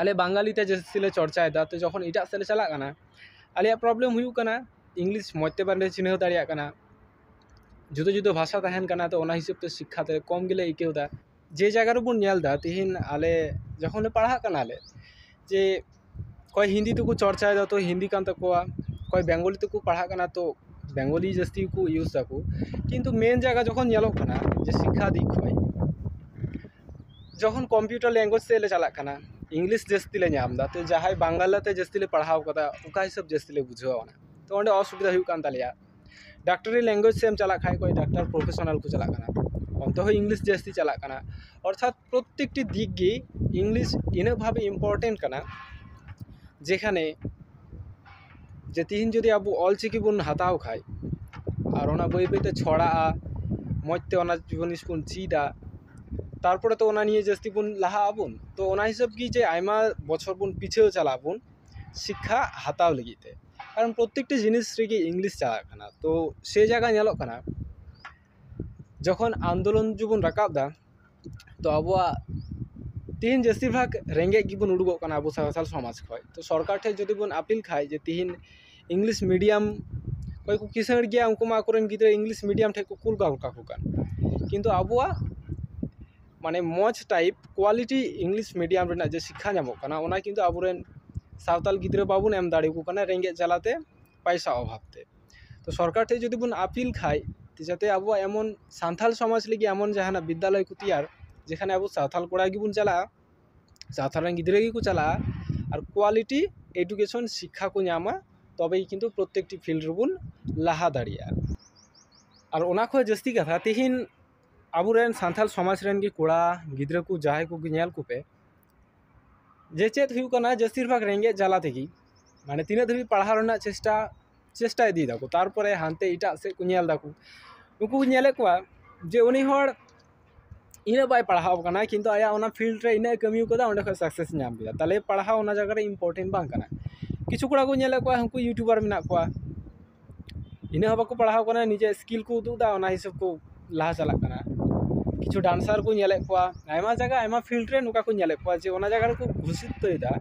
ᱟᱞᱮ ᱵᱟᱝᱜᱟᱞᱤ ᱛᱮ ᱡᱟᱹᱥᱛᱤ ᱞᱮ ᱪᱚᱨᱪᱟᱭᱮᱫᱟ ᱛᱚ ᱡᱚᱠᱷᱚᱱ ᱮᱴᱟᱜ ᱥᱮᱫ ᱞᱮ ᱪᱟᱞᱟᱜ ᱠᱟᱱᱟ ᱟᱞᱮᱭᱟᱜ ᱯᱨᱚᱵᱞᱮᱢ ᱦᱩᱭᱩᱜ ᱠᱟᱱᱟ ᱤᱝᱞᱤᱥ ᱢᱚᱡᱽ ᱛᱮ ᱵᱟᱞᱮ ᱪᱤᱱᱦᱟᱹᱣ ᱫᱟᱲᱮᱭᱟᱜ ᱠᱟᱱᱟ ᱡᱩᱫᱟᱹ ᱡᱩᱫᱟᱹ ᱵᱷᱟᱥᱟ ᱛᱟᱦᱮᱱ ᱠᱟᱱᱟ ᱛᱚ ᱚᱱᱟ ᱦᱤᱥᱟᱹᱵ ᱛᱮ ᱥᱤᱠᱠᱷᱟ ᱛᱮ ᱠᱚᱢ ᱜᱮᱞᱮ ᱟᱹᱭᱠᱟᱹᱣᱫᱟ ᱡᱮ ᱡᱟᱭᱜᱟ ᱨᱮᱵᱚᱱ ᱧᱮᱞᱫᱟ ᱛᱮᱦᱮᱧ ᱟᱞᱮ ᱡᱚᱠᱷᱚᱱ ᱞᱮ ᱯᱟᱲᱦᱟᱜ ᱠᱟᱱᱟ ᱞᱮ ᱡᱮ ᱚᱠᱚᱭ ᱦᱤᱱᱫᱤ ᱛᱮᱠᱚ ᱪᱚᱨᱪᱟᱭᱮᱫᱟ ᱛᱚ ᱦᱤᱱᱫᱤ ᱠᱟᱱ ᱛᱟᱠᱚᱣᱟ ᱚᱠᱚᱭ ᱵᱮᱝᱜᱚᱞᱤ ᱛᱮᱠᱚ ᱯᱟᱲᱦᱟᱜ ᱠᱟᱱᱟ ᱛᱚ ᱵᱮᱝᱜᱚᱞᱤ ᱡᱟᱹᱥᱛᱤ ᱠᱚ ᱤᱭᱩᱥ ᱫᱟᱠᱚ ᱠᱤᱱᱛᱩ ᱢᱮᱱ ᱡᱟᱭᱜᱟ ᱡᱚᱠᱷᱚᱱ ᱧᱮᱞᱚᱜ ᱠᱟᱱᱟ ᱡᱮ ᱥᱤᱠᱠᱷᱟ ᱫᱤᱠ ᱠᱷᱚᱡ ᱡᱚᱠᱷᱚᱱ ᱠᱚᱢᱯᱤᱭᱩᱴᱟᱨ ᱞᱮᱝᱜᱩᱭᱮᱡᱽ ᱥᱮᱫ ᱞᱮ ᱪᱟᱞᱟᱜ ᱠᱟᱱᱟ ᱤᱝᱞᱤᱥ ᱡᱟᱹᱥᱛᱤ ᱞᱮ ᱧᱟᱢ ᱮᱫᱟ ᱛᱚ ᱡᱟᱦᱟᱸᱭ ᱵᱟᱝᱞᱟ ᱛᱮ ᱡᱟᱹᱥᱛᱤ ᱞᱮ ᱯᱟᱲᱦᱟᱣ ᱠᱟᱫᱟ ᱚᱠᱟ ᱦᱤᱥᱟᱹᱵ ᱡᱟᱹᱥᱛᱤ ᱞᱮ ᱵᱩᱡᱷᱟᱹᱣᱟ ᱚᱱᱟ ᱛᱚ ᱚᱸᱰᱮ ᱚᱥᱩᱵᱤᱫᱷᱟ ᱦᱩᱭᱩᱜ ᱠᱟᱱ ᱛᱟᱞᱮᱭᱟ ᱰᱟᱠᱴᱚᱨᱤ ᱞᱮᱝᱜᱩᱭᱮᱡᱽ ᱥᱮᱫ ᱮᱢ ᱪᱟᱞᱟᱜ ᱠᱷᱟᱡ ᱚᱠᱚᱭ ᱰᱟᱠᱴᱟᱨ ᱯᱨᱚᱯᱷᱮᱥᱚᱱᱟᱞ ᱠᱚ ᱪᱟᱞᱟᱜ ᱠᱟᱱᱟ ᱚᱱᱛᱮ ᱦᱚᱸ ᱤᱝᱞᱤᱥ ᱡᱟᱹᱥᱛᱤ ᱪᱟᱞᱟᱜ ᱠᱟᱱᱟ ᱚᱨᱛᱷᱟᱛ ᱯᱨᱚᱛᱮᱠᱴᱤ ᱫᱤᱠ ᱜᱮ ᱤᱝᱞᱤᱥ ᱤᱱᱟᱹᱜ ᱵᱷᱟᱵᱮ ᱤᱢᱯᱳᱨᱴᱮᱱᱴ ᱠᱟᱱᱟ ᱡᱮᱠᱷᱟᱱᱮ ᱡᱮ ᱛᱤᱦᱤᱧ ᱡᱩᱫᱤ ᱟᱵᱚ ᱚᱞ ᱪᱤᱠᱤ ᱵᱚᱱ ᱦᱟᱛᱟᱣ ᱠᱷᱟᱡ ᱟᱨ ᱚᱱᱟ ᱵᱟᱹᱭ ᱵᱟᱹᱭ ᱛᱮ ᱪᱷᱚᱲᱟᱜᱼᱟ ᱢᱚᱡᱽ ᱛᱮ ᱚᱱᱟ ᱡᱤᱱᱤᱥ ᱵᱚᱱ ᱪᱮᱫᱟ ᱛᱟᱨᱯᱚᱨᱮ ᱛᱚ ᱚᱱᱟ ᱱᱤᱭᱮ ᱡᱟᱹᱥᱛᱤ ᱵᱚᱱ ᱞᱟᱦᱟᱜ ᱟᱵᱚᱱ ᱛᱚ ᱚᱱᱟ ᱦᱤᱥᱟᱹᱵ ᱜᱮ ᱡᱮ ᱟᱭᱢᱟ ᱵᱚᱪᱷᱚᱨ ᱵᱚᱱ ᱯᱤᱪᱷᱟᱹᱣ ᱪᱟᱞᱟᱜ ᱟᱵᱚᱱ ᱥᱤᱠᱠᱷᱟ ᱦᱟᱛᱟᱣ ᱞᱟᱹᱜᱤᱫ ᱛᱮ ᱠᱟᱨᱚᱱ ᱯᱨᱚᱛᱮᱠᱴᱤ ᱡᱤᱱᱤᱥ ᱨᱮᱜᱮ ᱤᱝᱞᱤᱥ ᱪᱟᱞᱟᱜ ᱠᱟᱱᱟ ᱛᱚ ᱥᱮ ᱡᱟᱭᱜᱟ ᱧᱮᱞᱚᱜ ᱠᱟᱱᱟ ᱡᱚᱠᱷᱚᱱ ᱟᱱᱫᱳᱞᱚᱱ ᱡᱮᱵᱚᱱ ᱨᱟᱠᱟᱵ ᱫᱟ ᱛᱚ ᱟᱵᱚᱣᱟᱜ ᱛᱮᱦᱤᱧ ᱡᱟᱹᱥᱛᱤ ᱵᱷᱟᱜᱽ ᱨᱮᱸᱜᱮᱡ ᱜᱮᱵᱚᱱ ᱩᱰᱩᱠᱚᱜ ᱠᱟᱱᱟ ᱟᱵᱚ ᱥᱟᱱᱛᱟᱲ ᱥᱚᱢᱟᱡᱽ ᱠᱷᱚᱡ ᱛᱚ ᱥᱚᱨᱠᱟᱨ ᱴᱷᱮᱡ ᱡᱩᱫᱤ ᱵᱚᱱ ᱟᱹᱯᱤᱞ ᱠᱷᱟᱡ ᱡᱮ ᱛᱮᱦᱤᱧ ᱤᱝᱞᱤᱥ ᱢᱤᱰᱤᱭᱟᱢ ᱚᱠᱚᱭ ᱠᱚ ᱠᱤᱥᱟᱹᱬ ᱜᱮᱭᱟ ᱩᱱᱠᱩ ᱢᱟ ᱟᱠᱚ ᱨᱮᱱ ᱜᱤᱫᱽᱨᱟᱹ ᱤᱝᱞᱤᱥ ᱢᱤᱰᱤᱭᱟᱢ ᱴᱷᱮᱡ ᱠᱚ ᱠᱩᱞ ᱜᱚᱫ ᱠᱟᱠᱚ ᱠᱟᱱ ᱠᱤᱱᱛᱩ ᱟᱵᱚᱣᱟᱜ ᱢᱟᱱᱮ ᱢᱚᱡᱽ ᱴᱟᱭᱤᱯ ᱠᱳᱣᱟᱞᱤᱴᱤ ᱤᱝᱞᱤᱥ ᱢᱤᱰᱤᱭᱟᱢ ᱨᱮᱱᱟᱜ ᱡᱮ ᱥᱤᱠᱠᱷᱟ ᱧᱟᱢᱚᱜ ᱠᱟᱱᱟ ᱚᱱᱟ ᱠᱤᱱᱛᱩ ᱟᱵᱚ ᱨᱮᱱ ᱥᱟᱶᱛᱟᱞ ᱜᱤᱫᱽᱨᱟᱹ ᱵᱟᱵᱚᱱ ᱮᱢ ᱫᱟᱲᱮᱭᱟᱠᱚ ᱠᱟᱱᱟ ᱨᱮᱸᱜᱮᱡ ᱡᱟᱞᱟᱛᱮ ᱯᱚᱭᱥᱟ ᱚᱵᱷᱟᱵ ᱛᱮ ᱛᱚ ᱥᱚᱨᱠᱟᱨ ᱴᱷᱮᱱ ᱡᱩᱫᱤ ᱵᱚᱱ ᱟᱹᱯᱤᱞ ᱠᱷᱟᱱ ᱡᱟᱛᱮ ᱟᱵᱚᱣᱟᱜ ᱮᱢᱚᱱ ᱥᱟᱱᱛᱟᱲ ᱥᱚᱢᱟᱡᱽ ᱞᱟᱹᱜᱤᱫ ᱮᱢᱚᱱ ᱡᱟᱦᱟᱱᱟᱜ ᱵᱤᱫᱽᱫᱟᱞᱚᱭ ᱠᱚ ᱛᱮᱭᱟᱨ ᱡᱮᱠᱷᱟᱱᱮ ᱟᱵᱚ ᱥᱟᱱᱛᱟᱲ ᱠᱚᱲᱟ ᱜᱮᱵᱚᱱ ᱪᱟᱞᱟᱜᱼᱟ ᱥᱟᱱᱛᱟᱲ ᱨᱮᱱ ᱜᱤᱫᱽᱨᱟᱹ ᱜᱮᱠᱚ ᱪᱟᱞᱟᱜᱼᱟ ᱟᱨ ᱠᱳᱣᱟᱞᱤᱴᱤ ᱮᱰᱩᱠᱮᱥᱚᱱ ᱥᱤᱠᱠᱷᱟ ᱠᱚ ᱧᱟᱢᱟ ᱛᱚᱵᱮ ᱠᱤᱱᱛᱩ ᱯᱨᱚᱛᱮᱠᱴᱤ ᱯᱷᱤᱞᱰ ᱨᱮᱵᱚᱱ ᱞᱟᱦᱟ ᱫᱟᱲᱮᱭᱟᱜᱼᱟ ᱟᱨ ᱚᱱᱟ ᱠᱷᱚᱱ ᱡᱟᱹᱥᱛᱤ ᱠᱟᱛᱷᱟ ᱛᱮᱦᱤᱧ ᱟᱵᱚᱨᱮᱱ ᱥᱟᱱᱛᱟᱲ ᱥᱚᱢᱟᱡᱽ ᱨᱮᱱ ᱜᱮ ᱠᱚᱲᱟ ᱜᱤᱫᱽᱨᱟᱹ ᱠᱚ ᱡᱟᱦᱟᱸᱭ ᱠᱚᱜᱮ ᱧᱮᱞ ᱠᱚᱯᱮ ᱡᱮ ᱪᱮᱫ ᱦᱩᱭᱩᱜ ᱠᱟᱱᱟ ᱡᱟᱹᱥᱛᱤ ᱵᱷᱟᱜᱽ ᱨᱮᱸᱜᱮᱡ ᱡᱟᱞᱟ ᱛᱮᱜᱮ ᱢᱟᱱᱮ ᱛᱤᱱᱟᱹᱜ ᱫᱷᱟᱹᱵᱤᱡ ᱯᱟᱲᱦᱟᱣ ᱨᱮᱱᱟᱜ ᱪᱮᱥᱴᱟ ᱪᱮᱥᱴᱟ ᱤᱫᱤᱭ ᱫᱟᱠᱚ ᱛᱟᱨᱯᱚᱨᱮ ᱦᱟᱱᱛᱮ ᱮᱴᱟᱜ ᱥᱮᱫ ᱠᱚ ᱧᱮᱞ ᱫᱟᱠᱚ ᱩᱱᱠᱩ ᱠᱚ ᱧᱮᱞᱮᱫ ᱠᱚᱣᱟ ᱡᱮ ᱩᱱᱤ ᱦᱚᱲ ᱤᱱᱟᱹᱜ ᱵᱟᱭ ᱯᱟᱲᱦᱟᱣ ᱠᱟᱱᱟ ᱠᱤᱱᱛᱩ ᱟᱭᱟᱜ ᱚᱱᱟ ᱯᱷᱤᱞᱰ ᱨᱮ ᱤᱱᱟᱹᱜ ᱮ ᱠᱟᱹᱢᱤ ᱠᱟᱫᱟ ᱚᱸᱰᱮ ᱠᱷᱚᱡ ᱥᱟᱠᱥᱮᱥ ᱧᱟᱢ ᱠᱮᱫᱟ ᱛᱟᱦᱚᱞᱮ ᱯᱟᱲᱦᱟᱣ ᱚᱱᱟ ᱡᱟᱭᱜᱟ ᱨᱮ ᱤᱢᱯᱳᱨᱴᱮᱱᱴ ᱵᱟᱝ ᱠᱟᱱᱟ ᱠᱤᱪᱷᱩ ᱠᱚᱲᱟ ᱠᱚ ᱧᱮᱞᱮᱫ ᱠᱚᱣᱟ ᱩᱱᱠᱩ ᱤᱭᱩᱴᱩᱵᱟᱨ ᱢᱮᱱᱟᱜ ᱠᱚᱣᱟ ᱤᱱᱟᱹ ᱦᱚᱸ ᱵᱟᱠᱚ ᱯᱟᱲᱦᱟᱣ ᱠᱟᱱᱟ ᱱᱤᱡᱮ ᱥᱠᱤᱞ ᱠᱚ ᱩᱫᱩᱜ ᱮᱫᱟ ᱚᱱᱟ ᱦᱤᱥᱟᱹᱵ ᱠᱚ ᱞᱟᱦᱟ ᱪᱟᱞᱟᱜ ᱠᱟᱱᱟ ᱠᱤᱪᱷᱩ ᱰᱟᱱᱥᱟᱨ ᱠᱚ ᱧᱮᱞᱮᱫ ᱠᱚᱣᱟ ᱟᱭᱢᱟ ᱡᱟᱭᱜᱟ ᱟᱭᱢᱟ ᱯᱷᱤᱞᱰ ᱨᱮ ᱱᱚᱝᱠᱟ ᱠᱚ ᱧᱮᱞᱮᱫ ᱠᱚᱣᱟ ᱡᱮ ᱚᱱᱟ ᱡᱟᱭᱜᱟ ᱨᱮᱠᱚ ᱜᱩᱥᱤᱛᱟᱹᱭᱮᱫᱟ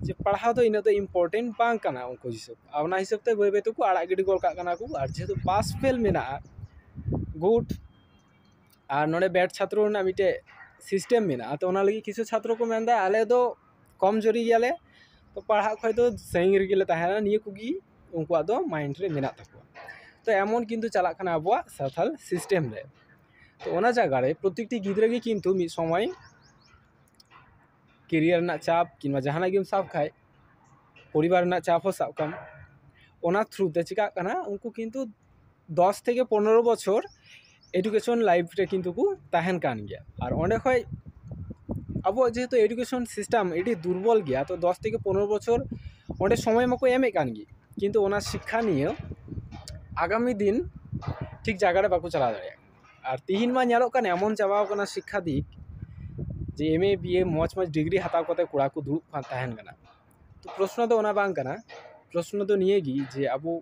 ᱡᱮ ᱯᱟᱲᱦᱟᱣ ᱫᱚ ᱤᱱᱟᱹᱜ ᱫᱚ ᱤᱢᱯᱳᱨᱴᱮᱱᱴ ᱵᱟᱝ ᱠᱟᱱᱟ ᱩᱱᱠᱩ ᱦᱤᱥᱟᱹᱵ ᱟᱨ ᱚᱱᱟ ᱦᱤᱥᱟᱹᱵ ᱛᱮ ᱵᱟᱹᱭ ᱵᱟᱹᱭ ᱛᱮᱠᱚ ᱟᱲᱟᱜ ᱜᱤᱰᱤ ᱜᱚᱫ ᱠᱟᱜ ᱠᱟᱱᱟ ᱠᱚ ᱟᱨ ᱡᱮᱦᱮᱛᱩ ᱯᱟᱥ ᱯᱷᱮᱞ ᱢᱮᱱᱟᱜᱼᱟ ᱜᱩᱰ ᱟᱨ ᱱᱚᱰᱮ ᱵᱮᱰ ᱪᱷᱟᱛᱨᱚ ᱨᱮᱱᱟᱜ ᱢᱤᱫᱴᱮᱡ ᱥᱤᱥᱴᱮᱢ ᱢᱮᱱᱟᱜᱼᱟ ᱛᱚ ᱚᱱᱟ ᱞᱟᱹᱜᱤᱫ ᱠᱤᱪᱷᱩ ᱪᱷᱟᱛᱨᱚ ᱠᱚ ᱢᱮᱱᱫᱟ ᱟᱞᱮ ᱫᱚ ᱠᱚᱢ ᱡᱩᱨᱤ ᱜᱮᱭᱟᱞᱮ ᱛᱚ ᱯᱟᱲᱦᱟᱜ ᱠᱷᱚᱡ ᱫᱚ ᱥᱟᱹᱜᱤᱧ ᱨᱮᱜᱮ ᱞᱮ ᱛᱟᱦᱮᱱᱟ ᱱᱤᱭᱟᱹ ᱠᱚᱜᱮ ᱩᱱᱠᱩᱣᱟᱜ ᱫᱚ ᱢᱟᱭᱤᱱᱰ ᱨᱮ ᱢᱮᱱᱟᱜ ᱛᱟᱠᱚᱣᱟ ᱛᱚ ᱮᱢᱚᱱ ᱠᱤᱱᱛᱩ ᱪᱟᱞᱟᱜ ᱠᱟᱱᱟ ᱟᱵᱚᱣᱟᱜ ᱥᱟᱱᱛᱟᱲ ᱥᱤᱥᱴᱮᱢ ᱨᱮ ᱛᱚ ᱚᱱᱟ ᱡᱟᱭᱜᱟ ᱨᱮ ᱯᱨᱚᱛᱮᱠᱴᱤ ᱜᱤᱫᱽᱨᱟᱹ ᱜᱮ ᱠᱤᱱᱛᱩ ᱢᱤᱫ ᱥᱚᱢᱚᱭ ᱠᱮᱨᱤᱭᱟᱨ ᱨᱮᱱᱟᱜ ᱪᱟᱯ ᱠᱤᱢᱵᱟ ᱡᱟᱦᱟᱱᱟᱜ ᱜᱮᱢ ᱥᱟᱵ ᱠᱷᱟᱡ ᱯᱚᱨᱤᱵᱟᱨ ᱨᱮᱱᱟᱜ ᱪᱟᱯ ᱦᱚᱸ ᱥᱟᱵ ᱠᱟᱜ ᱢᱮ ᱚᱱᱟ ᱛᱷᱨᱩ ᱛᱮ ᱪᱤᱠᱟᱜ ᱠᱟᱱᱟ ᱩᱱᱠᱩ ᱠᱤᱱᱛᱩ ᱫᱚᱥ ᱛᱷᱮᱠᱮ ᱯᱚᱱᱨᱚ ᱵᱚᱪᱷᱚᱨ ᱮᱰᱩᱠᱮᱥᱚᱱ ᱞᱟᱭᱤᱯᱷ ᱨᱮ ᱠᱤᱱᱛᱩ ᱠᱚ ᱛᱟᱦᱮᱱ ᱠᱟᱱ ᱜᱮᱭᱟ ᱟᱨ ᱚᱸᱰᱮ ᱠᱷᱚᱡ ᱟᱵᱚᱣᱟᱜ ᱡᱮᱦᱮᱛᱩ ᱮᱰᱩᱠᱮᱥᱚᱱ ᱥᱤᱥᱴᱮᱢ ᱟᱹᱰᱤ ᱫᱩᱨᱵᱚᱞ ᱜᱮᱭᱟ ᱛᱚ ᱫᱚᱥ ᱛᱷᱮᱠᱮ ᱯᱚᱱᱨᱚ ᱵᱚᱪᱷᱚᱨ ᱚᱸᱰᱮ ᱥᱚᱢᱚᱭ ᱢᱟᱠᱚ ᱮᱢᱮᱜ ᱠᱟᱱ ᱜᱮ ᱠᱤᱱᱛᱩ ᱚᱱᱟ ᱥᱤᱠᱠᱷᱟ ᱱᱤᱭᱮ ᱟᱜᱟᱢᱤ ᱫᱤᱱ ᱴᱷᱤᱠ ᱡᱟᱭᱜᱟ ᱨᱮ ᱵᱟᱠᱚ ᱪᱟᱞᱟᱣ ᱫᱟᱲᱮᱭᱟᱜ ᱠᱟᱱᱟ ᱟᱨ ᱛᱮᱦᱤᱧ ᱢᱟ ᱧᱮᱞᱚᱜ ᱠᱟᱱ ᱮᱢᱚᱱ ᱪᱟᱵᱟᱣ ᱠᱟᱱᱟ ᱥᱤᱠᱠᱷᱟ ᱫᱤᱠ ᱡᱮ ᱮᱢ ᱮ ᱵᱤ ᱮ ᱢᱚᱡᱽ ᱢᱚᱡᱽ ᱰᱤᱜᱽᱨᱤ ᱦᱟᱛᱟᱣ ᱠᱟᱛᱮᱫ ᱠᱚᱲᱟ ᱠᱚ ᱫᱩᱲᱩᱵ ᱠᱟᱱ ᱛᱟᱦᱮᱱ ᱠᱟᱱᱟ ᱛᱚ ᱯᱨᱚᱥᱱᱚ ᱫᱚ ᱚᱱᱟ ᱵᱟᱝ ᱠᱟᱱᱟ ᱯᱨᱚᱥᱱᱚ ᱫᱚ ᱱᱤᱭᱟᱹ ᱜᱮ ᱡᱮ ᱟᱵᱚ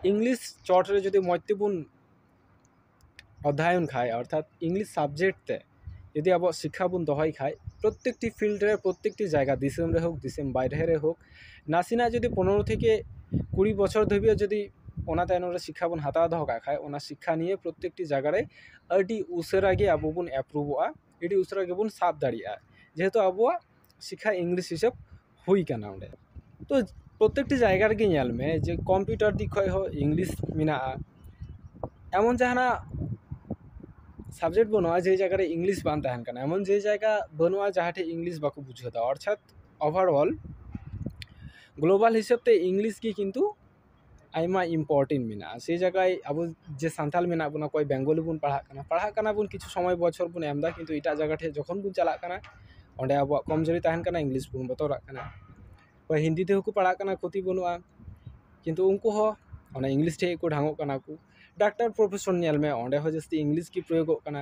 ᱤᱝᱞᱤᱥ ᱪᱚᱴ ᱨᱮ ᱡᱩᱫᱤ ᱢᱚᱡᱽ ᱛᱮᱵᱚᱱ ᱚᱫᱽᱫᱷᱟᱭᱚᱱ ᱠᱷᱟᱱ ᱚᱨᱛᱷᱟᱛ ᱤᱝᱞᱤᱥ ᱥᱟᱵᱽᱡᱮᱠᱴ ᱛᱮ ᱡᱩᱫᱤ ᱟᱵᱚᱣᱟᱜ ᱥᱤᱠᱠᱷᱟ ᱵᱚᱱ ᱫᱚᱦᱚᱭ ᱠᱷᱟᱡ ᱯᱨᱚᱛᱮᱠᱴᱤ ᱯᱷᱤᱞᱰ ᱨᱮ ᱯᱨᱚᱛᱮᱠᱴᱤ ᱡᱟᱭᱜᱟ ᱫᱤᱥᱚᱢ ᱨᱮ ᱦᱳᱠ ᱫᱤᱥᱚᱢ ᱵᱟᱭᱨᱮ ᱨᱮ ᱦᱳᱠ ᱱᱟᱥᱮᱱᱟᱜ ᱡᱩᱫᱤ ᱯᱚᱱᱮᱨᱚ ᱛᱷᱮᱠᱮ ᱠᱩᱲᱤ ᱵᱚᱪᱷᱚᱨ ᱫᱷᱟᱹᱵᱤᱡ ᱡᱩᱫᱤ ᱚᱱᱟ ᱛᱟᱭᱱᱚᱢ ᱨᱮ ᱥᱤᱠᱠᱷᱟ ᱵᱚᱱ ᱦᱟᱛᱟᱣ ᱫᱚᱦᱚ ᱠᱟᱜ ᱠᱷᱟᱡ ᱚᱱᱟ ᱥᱤᱠᱠᱷᱟ ᱱᱤᱭᱮ ᱯᱨᱚᱛᱮᱠᱴᱤ ᱡᱟᱭᱜᱟ ᱨᱮ ᱟᱹᱰᱤ ᱩᱥᱟᱹᱨᱟ ᱜᱮ ᱟᱵᱚ ᱵᱚᱱ ᱮᱯᱨᱩᱵᱷᱚᱜᱼᱟ ᱟᱹᱰᱤ ᱩᱥᱟᱹᱨᱟ ᱜᱮᱵᱚᱱ ᱥᱟᱵ ᱫᱟᱲᱮᱭᱟᱜᱼᱟ ᱡᱮᱦᱮᱛᱩ ᱟᱵᱚᱣᱟᱜ ᱥᱤᱠᱠᱷᱟ ᱤᱝᱞᱤᱥ ᱦᱤᱥᱟᱹᱵ ᱦᱩᱭ ᱠᱟᱱᱟ ᱚᱸᱰᱮ ᱛᱚ ᱯᱨᱚᱛᱮᱠᱴᱤ ᱡᱟᱭᱜᱟ ᱨᱮᱜᱮ ᱧᱮᱞ ᱢᱮ ᱡᱮ ᱠᱚᱢᱯᱤᱭᱩᱴᱟᱨ ᱫᱤᱠ ᱠᱷᱚᱡ ᱦᱚᱸ ᱤᱝᱞᱤᱥ ᱢᱮᱱᱟᱜᱼᱟ ᱮᱢᱚᱱ ᱡᱟᱦᱟᱱᱟᱜ ᱥᱟᱵᱡᱮᱠᱴ ᱵᱟᱹᱱᱩᱜᱼᱟ ᱡᱮ ᱡᱟᱭᱜᱟ ᱨᱮ ᱤᱝᱞᱤᱥ ᱵᱟᱝ ᱛᱟᱦᱮᱱ ᱠᱟᱱᱟ ᱮᱢᱚᱱ ᱡᱮ ᱡᱟᱭᱜᱟ ᱵᱟᱹᱱᱩᱜᱼᱟ ᱡᱟᱦᱟᱸ ᱴᱷᱮᱡ ᱤᱝᱞᱤᱥ ᱵᱟᱠᱚ ᱵᱩᱡᱷᱟᱹᱣᱫᱟ ᱚᱨᱛᱷᱟᱛ ᱚᱵᱷᱟᱨ ᱚᱞ ᱜᱞᱳᱵᱟᱞ ᱦᱤᱥᱟᱹᱵ ᱛᱮ ᱤᱝᱞᱤᱥ ᱜᱮ ᱠᱤᱱᱛᱩ ᱟᱭᱢᱟ ᱤᱢᱯᱳᱨᱴᱮᱱᱴ ᱢᱮᱱᱟᱜᱼᱟ ᱥᱮ ᱡᱟᱭᱜᱟᱭ ᱟᱵᱚ ᱡᱮ ᱥᱟᱱᱛᱟᱲ ᱢᱮᱱᱟᱜ ᱵᱚᱱᱟ ᱚᱠᱚᱭ ᱵᱮᱝᱜᱚᱞᱤ ᱵᱚᱱ ᱯᱟᱲᱦᱟᱜ ᱠᱟᱱᱟ ᱯᱟᱲᱦᱟᱜ ᱠᱟᱱᱟ ᱵᱚᱱ ᱠᱤᱪᱷᱩ ᱥᱚᱢᱚᱭ ᱵᱚᱪᱷᱚᱨ ᱵᱚᱱ ᱮᱢᱫᱟ ᱠᱤᱱᱛᱩ ᱮᱴᱟᱜ ᱡᱟᱭᱜᱟ ᱴᱷᱮᱱ ᱡᱚᱠᱷᱚᱱ ᱵᱚᱱ ᱪᱟᱞᱟᱜ ᱠᱟᱱᱟ ᱚᱸᱰᱮ ᱟᱵᱚᱣᱟᱜ ᱠᱚᱢ ᱡᱩᱨᱤ ᱛᱟᱦᱮᱱ ᱠᱟᱱᱟ ᱤᱝᱞᱤᱥ ᱵᱚᱱ ᱵᱚᱛᱚᱨᱟᱜ ᱠᱟᱱᱟ ᱚᱠᱚᱭ ᱦᱤᱱᱫᱤ ᱛᱮᱦᱚᱸ ᱠᱚ ᱯᱟᱲᱦᱟᱜ ᱠᱟᱱᱟ ᱠᱷᱚᱛᱤ ᱵᱟᱹᱱᱩᱜᱼᱟ ᱠᱤᱱᱛᱩ ᱩᱱᱠᱩ ᱦᱚᱸ ᱚᱱᱟ ᱤᱝᱞᱤᱥ ᱴᱷᱮᱱ ᱜᱮᱠᱚ ᱰᱷᱟᱝᱚᱜ ᱠᱟᱱᱟ ᱠᱚ ᱰᱟᱠᱴᱟᱨ ᱯᱨᱚᱯᱷᱮᱥᱚᱱ ᱧᱮᱞ ᱢᱮ ᱚᱸᱰᱮ ᱦᱚᱸ ᱡᱟᱹᱥᱛᱤ ᱤᱝᱞᱤᱥ ᱜᱮ ᱯᱨᱚᱭᱳᱜᱚᱜ ᱠᱟᱱᱟ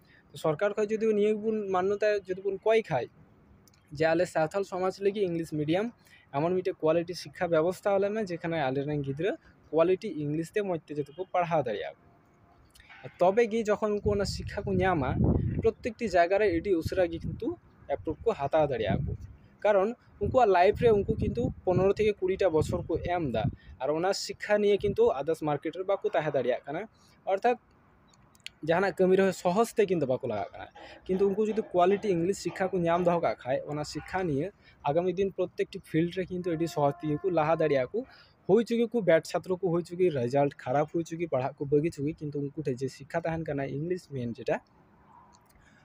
ᱥᱚᱨᱠᱟᱨ ᱠᱷᱚᱡ ᱡᱩᱫᱤ ᱱᱤᱭᱟᱹ ᱜᱮᱵᱚᱱ ᱢᱟᱱᱱᱚᱛᱟ ᱡᱩᱫᱤ ᱵᱚᱱ ᱠᱚᱭ ᱠᱷᱟᱡ ᱡᱮ ᱟᱞᱮ ᱥᱟᱱᱛᱟᱲ ᱥᱚᱢᱟᱡᱽ ᱞᱟᱹᱜᱤᱫ ᱤᱝᱞᱤᱥ ᱢᱤᱰᱤᱭᱟᱢ ᱮᱢᱚᱱ ᱢᱤᱫᱴᱮᱡ ᱠᱳᱣᱟᱞᱤᱴᱤ ᱥᱤᱠᱠᱷᱟ ᱵᱮᱵᱚᱥᱛᱷᱟ ᱟᱞᱮ ᱢᱮ ᱡᱮᱠᱷᱟᱱᱮ ᱟᱞᱮ ᱨᱮᱱ ᱜᱤᱫᱽᱨᱟᱹ ᱠᱳᱣᱟᱞᱤᱴᱤ ᱤᱝᱞᱤᱥ ᱛᱮ ᱢᱚᱡᱽ ᱛᱮ ᱡᱟᱛᱮ ᱠᱚ ᱯᱟᱲᱦᱟᱣ ᱫᱟᱲᱮᱭᱟᱜ ᱛᱚᱵᱮ ᱜᱮ ᱡᱚᱠᱷᱚᱱ ᱩᱱᱠᱩ ᱚᱱᱟ ᱥᱤᱠᱠᱷᱟ ᱠᱚ ᱧᱟᱢᱟ ᱯᱨᱚᱛᱮᱠᱴᱤ ᱡᱟᱭᱜᱟ ᱨᱮ ᱟᱹᱰᱤ ᱩᱥᱟᱹᱨᱟ ᱜᱮ ᱠᱤᱱᱛᱩ ᱮᱯᱨᱩᱵᱷ ᱠᱚ ᱦᱟᱛᱟᱣ ᱫᱟᱲᱮᱭᱟᱜᱼᱟ ᱠᱚ ᱠᱟᱨᱚᱱ ᱩᱱᱠᱩᱣᱟᱜ ᱞᱟᱭᱤᱯᱷ ᱨᱮ ᱩᱱᱠᱩ ᱠᱤᱱᱛᱩ ᱯᱚᱱᱨᱚ ᱛᱷᱮᱠᱮ ᱠᱩᱲᱤᱴᱟ ᱵᱚᱪᱷᱚᱨ ᱠᱚ ᱮᱢᱫᱟ ᱟᱨ ᱚᱱᱟ ᱥᱤᱠᱠᱷᱟ ᱱᱤᱭᱮ ᱠᱤᱱᱛᱩ ᱟᱫᱟᱨᱥ ᱢᱟᱨᱠᱮᱴ ᱨᱮ ᱵᱟᱠᱚ ᱛᱟᱦᱮᱸ ᱫᱟᱲᱮᱭᱟᱜ ᱠᱟᱱᱟ ᱚᱨᱛᱷᱟᱛ ᱡᱟᱦᱟᱱᱟᱜ ᱠᱟᱹᱢᱤ ᱨᱮᱦᱚᱸ ᱥᱚᱦᱚᱡᱽ ᱛᱮ ᱠᱤᱱᱛᱩ ᱵᱟᱠᱚ ᱞᱟᱜᱟᱜ ᱠᱟᱱᱟ ᱠᱤᱱᱛᱩ ᱩᱱᱠᱩ ᱡᱩᱫᱤ ᱠᱚᱣᱟᱞᱤᱴᱤ ᱤᱝᱞᱤᱥ ᱥᱤᱠᱠᱷᱟ ᱠᱚ ᱧᱟᱢ ᱫᱚᱦᱚ ᱠᱟᱜ ᱠᱷᱟᱡ ᱚᱱᱟ ᱥᱤᱠᱠᱷᱟ ᱱᱤᱭᱮ ᱟᱜᱟᱢᱤ ᱫᱤᱱ ᱯᱨᱚᱛᱛᱮᱠᱴᱤ ᱯᱷᱤᱞᱰ ᱨᱮ ᱠᱤᱱᱛᱩ ᱟᱹᱰᱤ ᱥᱚᱦᱚᱡᱽ ᱛᱮᱜᱮ ᱠᱚ ᱞᱟᱦᱟ ᱫᱟᱲᱮᱭᱟᱜ ᱟᱠᱚ ᱦᱩᱭ ᱪᱩᱠᱤ ᱠᱚ ᱵᱮᱰ ᱪᱷᱟᱛᱨᱚ ᱠᱚ ᱦᱩᱭ ᱪᱩᱠᱤ ᱨᱮᱡᱟᱞᱴ ᱠᱷᱟᱨᱟᱯ ᱦᱩᱭ ᱪᱩᱠᱤ ᱯᱟᱲᱦᱟᱜ ᱠᱚ ᱵᱟᱹᱜᱤ ᱪᱩᱠᱤ ᱠᱤᱱᱛᱩ ᱩᱱᱠᱩ ᱴᱷᱮᱡ ᱡᱮ ᱥᱤᱠᱠᱷᱟ ᱛᱟᱦᱮᱱ ᱠᱟᱱᱟ ᱤᱝᱞᱤᱥ ᱢᱮᱱ ᱡᱮᱴᱟ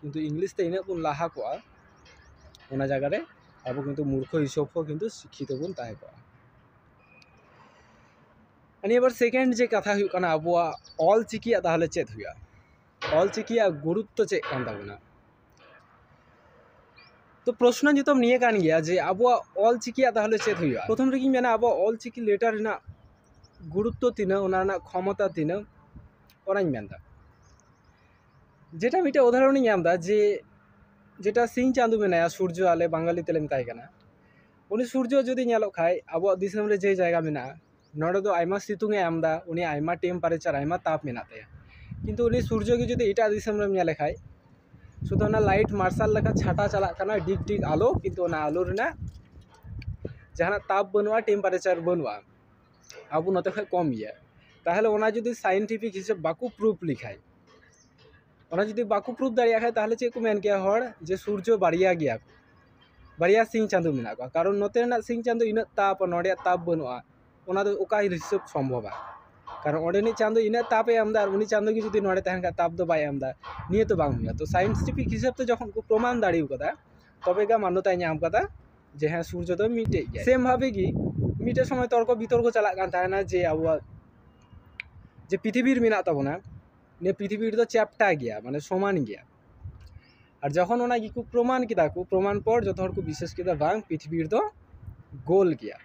ᱠᱤᱱᱛᱩ ᱤᱝᱞᱤᱥ ᱛᱮ ᱤᱱᱟᱹᱜ ᱵᱚᱱ ᱞᱟᱦᱟ ᱠᱚᱜᱼᱟ ᱚᱱᱟ ᱡᱟᱭᱜᱟ ᱨᱮ ᱟᱵᱚ ᱠᱤᱱᱛᱩ ᱢᱩᱨᱠᱷᱚ ᱦᱤᱥᱟᱹᱵ ᱦᱚᱸ ᱠᱤᱱᱛᱩ ᱥᱤᱠᱠᱷᱤᱛᱚ ᱵᱚᱱ ᱛᱟᱦᱮᱸ ᱠᱚᱜᱼᱟ ᱱᱤᱭᱟᱹ ᱯᱚᱨ ᱥᱮᱠᱮᱱᱰ ᱡᱮ ᱠᱟᱛᱷᱟ ᱦᱩᱭᱩᱜ ᱠᱟᱱᱟ ᱟᱵᱚᱣᱟᱜ ᱚᱞ ᱪᱤᱠᱤᱭᱟᱜ ᱛᱟᱦᱚᱞᱮ ᱪᱮᱫ ᱦᱩᱭᱩᱜᱼᱟ ᱚᱞ ᱪᱤᱠᱤᱭᱟᱜ ᱜᱩᱨᱩᱛᱛᱚ ᱪᱮᱫ ᱠᱟᱱ ᱛᱟᱵᱚᱱᱟ ᱛᱚ ᱯᱨᱚᱥᱱᱚ ᱱᱤᱛᱚᱜ ᱱᱤᱭᱟᱹ ᱠᱟᱱ ᱜᱮᱭᱟ ᱡᱮ ᱟᱵᱚᱣᱟᱜ ᱚᱞ ᱪᱤᱠᱤᱭᱟᱜ ᱛᱟᱦᱚᱞᱮ ᱪᱮᱫ ᱦᱩᱭᱩᱜᱼᱟ ᱯᱨᱚᱛᱷᱚᱢ ᱨᱮᱜᱤᱧ ᱢᱮᱱᱟ ᱟᱵᱚᱣᱟᱜ ᱚᱞ ᱪᱤᱠᱤ ᱞᱮᱴᱟᱨ ᱨᱮᱱᱟᱜ ᱜᱩᱨᱩᱛᱛᱚ ᱛᱤᱱᱟᱹᱜ ᱚᱱᱟ ᱨᱮᱱᱟᱜ ᱠᱷᱚᱢᱚᱛᱟ ᱛᱤᱱᱟᱹᱜ ᱚᱱᱟᱧ ᱢᱮᱱᱫᱟ ᱡᱮᱴᱟ ᱢᱤᱫᱴᱮᱡ ᱩᱫᱟᱦᱚᱨᱚᱱᱤᱧ ᱧᱟᱢᱫᱟ ᱡᱮ ᱡᱮᱴᱟ ᱥᱤᱧ ᱪᱟᱸᱫᱚ ᱢᱮᱱᱟᱭᱟ ᱥᱩᱨᱡᱚ ᱟᱞᱮ ᱵᱟᱝᱜᱟᱞᱤ ᱛᱮᱞᱮ ᱢᱮᱛᱟᱭ ᱠᱟᱱᱟ ᱩᱱᱤ ᱥᱩᱨᱡᱚ ᱡᱩᱫᱤ ᱧᱮᱞᱚᱜ ᱠᱷᱟᱡ ᱟᱵᱚᱣᱟᱜ ᱫᱤᱥᱚᱢ ᱨᱮ ᱡᱮ ᱡᱟᱭᱜᱟ ᱢᱮᱱᱟᱜᱼᱟ ᱱᱚᱰᱮ ᱫᱚ ᱟᱭᱢᱟ ᱥᱤᱛᱩᱝ ᱮ ᱮᱢᱫᱟ ᱩᱱᱤ ᱟᱭᱢᱟ ᱴᱮᱢᱯᱟᱨᱮᱪᱟᱨ ᱟᱭᱢᱟ ᱛᱟᱯ ᱢᱮᱱᱟᱜ ᱛᱟᱭᱟ ᱠᱤᱱᱛᱩ ᱩᱱᱤ ᱥᱩᱨᱡᱚ ᱜᱮ ᱡᱩᱫᱤ ᱮᱴᱟᱜ ᱫᱤᱥᱚᱢ ᱨᱮᱢ ᱧᱮᱞᱮ ᱠᱷᱟᱡ ᱥᱩᱫᱩ ᱚᱱᱟ ᱞᱟᱭᱤᱴ ᱢᱟᱨᱥᱟᱞ ᱞᱮᱠᱟ ᱪᱷᱟᱴᱟ ᱪᱟᱞᱟᱜ ᱠᱟᱱᱟ ᱰᱤᱜᱽ ᱰᱤᱜᱽ ᱟᱞᱚ ᱠᱤᱱᱛᱩ ᱚᱱᱟ ᱟᱞᱚ ᱨᱮᱱᱟᱜ ᱡᱟᱦᱟᱱᱟᱜ ᱛᱟᱯ ᱵᱟᱹᱱᱩᱜᱼᱟ ᱴᱮᱢᱯᱟᱨᱮᱪᱟᱨ ᱵᱟᱹᱱᱩᱜᱼᱟ ᱟᱵᱚ ᱱᱚᱛᱮ ᱠᱷᱚᱡ ᱠᱚᱢ ᱜᱮᱭᱟ ᱛᱟᱦᱚᱞᱮ ᱚᱱᱟ ᱡᱩᱫᱤ ᱥᱟᱭᱮᱱᱴᱤᱯᱷᱤᱠ ᱦᱤᱥᱟᱹᱵ ᱵᱟᱠᱚ ᱯᱨᱩᱵᱷ ᱞᱮᱠᱷᱟᱡ ᱚᱱᱟ ᱡᱩᱫᱤ ᱵᱟᱠᱚ ᱯᱨᱩᱵᱷ ᱫᱟᱲᱮᱭᱟᱜ ᱠᱷᱟᱡ ᱛᱟᱦᱚᱞᱮ ᱪᱮᱫ ᱠᱚ ᱢᱮᱱ ᱠᱮᱭᱟ ᱦᱚᱲ ᱡᱮ ᱥᱩᱨᱡᱚ ᱵᱟᱨᱭᱟ ᱜᱮᱭᱟ ᱠᱚ ᱵᱟᱨᱭᱟ ᱥᱤᱧ ᱪᱟᱸᱫᱚ ᱢᱮᱱᱟᱜ ᱠᱚᱣᱟ ᱠᱟᱨᱚᱱ ᱱᱚᱛᱮ ᱨᱮᱱᱟᱜ ᱥᱤᱧ ᱪᱟᱸᱫᱚ ᱤᱱᱟᱹᱜ ᱛᱟᱯ ᱱᱚᱰᱮᱭᱟᱜ ᱛᱟᱯ ᱵᱟᱹᱱᱩᱜᱼᱟ ᱚᱱᱟ ᱫᱚ ᱚᱠᱟ ᱦᱤᱥᱟᱹᱵ ᱥᱚᱢᱵᱷᱚᱵᱟ ᱠᱟᱨᱚᱱ ᱚᱸᱰᱮᱱᱤᱡ ᱪᱟᱸᱫᱚ ᱤᱱᱟᱹᱜ ᱛᱟᱯ ᱮ ᱮᱢᱫᱟ ᱟᱨ ᱩᱱᱤ ᱪᱟᱸᱫᱚ ᱜᱮ ᱡᱩᱫᱤ ᱱᱚᱰᱮ ᱛᱟᱦᱮᱱ ᱠᱷᱟᱡ ᱛᱟᱯ ᱫᱚ ᱵᱟᱭ ᱮᱢᱫᱟ ᱱᱤᱭᱟᱹ ᱛᱚ ᱵᱟᱝ ᱦᱩᱭᱩᱜᱼᱟ ᱛᱚ ᱥᱟᱭᱮᱱᱴᱤᱯᱷᱤᱠ ᱦᱤᱥᱟᱹᱵ ᱛᱮ ᱡᱚᱠᱷᱚᱱ ᱠᱚ ᱯᱨᱚᱢᱟᱱ ᱫᱟᱲᱮᱣ ᱠᱟᱫᱟ ᱛᱚᱵᱮ ᱜᱮ ᱢᱟᱱᱱᱚᱛᱟᱭ ᱧᱟᱢ ᱠᱟᱫᱟ ᱡᱮ ᱦᱮᱸ ᱥᱩᱨᱡᱚ ᱫᱚ ᱢᱤᱫᱴᱮᱡ ᱜᱮᱭᱟᱭ ᱥᱮᱢ ᱵᱷᱟᱵᱮ ᱜᱮ ᱢᱤᱫᱴᱮᱡ ᱥᱚᱢᱚᱭ ᱛᱚᱨᱠᱚ ᱵᱤᱛᱚᱨᱠᱚ ᱪᱟᱞᱟᱜ ᱠᱟᱱ ᱛᱟᱦᱮᱱᱟ ᱡᱮ ᱟᱵᱚᱣᱟᱜ ᱡᱮ ᱯᱨᱤᱛᱷᱤᱵᱤᱨ ᱢᱮᱱᱟᱜ ᱛᱟᱵᱚᱱᱟ ᱱᱤᱭᱟᱹ ᱯᱨᱤᱛᱷᱤᱵᱤ ᱫᱚ ᱪᱮᱯᱴᱟ ᱜᱮᱭᱟ ᱢᱟᱱᱮ ᱥᱚᱢᱟᱱ ᱜᱮᱭᱟ ᱟᱨ ᱡᱚᱠᱷᱚᱱ ᱚᱱᱟ ᱜᱮᱠᱚ ᱯᱨᱚᱢᱟᱱ ᱠᱮᱫᱟ ᱠᱚ ᱯᱨᱚᱢᱟᱱ ᱯᱚᱨ ᱡᱚᱛᱚ ᱦᱚᱲ ᱠᱚ ᱵᱤᱥᱮᱥ ᱠᱮᱫᱟ ᱵᱟᱝ ᱯᱨᱤᱛᱷᱤᱵᱤ ᱫᱚ ᱜᱳᱞ ᱜᱮᱭᱟ